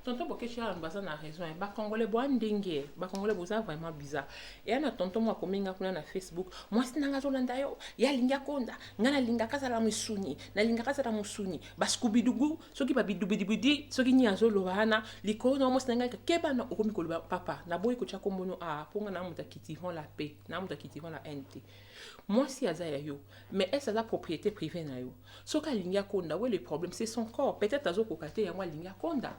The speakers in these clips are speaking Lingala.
tonton bokeshi ya baza na raison ye eh. bakongole bwa ndenge bakongole boza vraiment bizarre eya na tonton mwa akomi nga kuna na facebook mwasi nanga azolanda yo ye alingi akonda nga nalingaka azala misuni nalingaka azala mosuni baskubidugu soki babidubidibidi soki nini azoloba wana likolo na mwasi nanga keba na okomi koloba papa naboyi kotya kombono a ah, mpo nga na moto akitivan la paix na moto akitivan la haine te mwasi aza ya yo mais ese aza propriété privée na yo soki alingi akonda we le problème c'est son corps peut-être azokoka te yango alingi akonda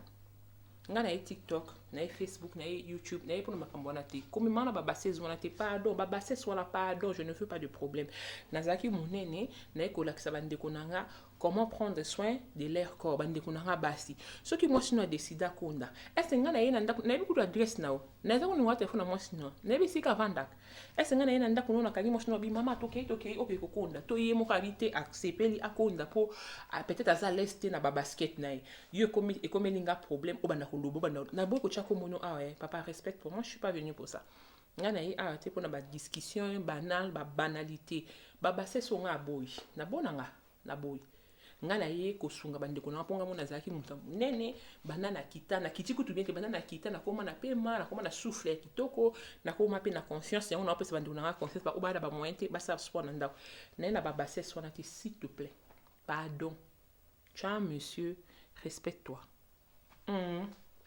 nga na ye tiktok na ye facebook na ye youtube na ye mpona makambo wana te komema na babases wana te pardon babases wana pardon je ne veux pas de problème nazalaki monene naye kolakisa bandeko na nga comment prendre soin de leur corps bandeko na nga basi soki mwasi no adeside akonda ese nga na ye na ndako nayebi kutu adresse na yo naza koninga telefone na mwasi no nayebi esika avandaka ese ngai na ye na ndako no nakangi mwasi no abi mama tokei tokei oke kokonda to ye moko abi te asepeli akonda mpo ah, peut-être aza lese te na babasket na ye yo ekomeli nga problème obanda koloba obanda naboyi kotya kombo no awa ye papa respect pour moi je suis pas venu pour ça ngai na ye awa te mpo na badiscussion banal babanalité babasese o ngai aboyi nabona nga na boye ngai naye kosunga bandeko na nga mpo ngai mona azalaki moto ya monene banda na kita na kiti kutu bien te banda na kita nakoma na pema nakoma na souffle ya kitoko nakoma mpe na confiance yango naopesa bandeko na nga confiance baoyo baya na bamoyen te basala sport na ndako naye na babassesse wana te s'il te plaît pardon ca monsieur respecte toi mm.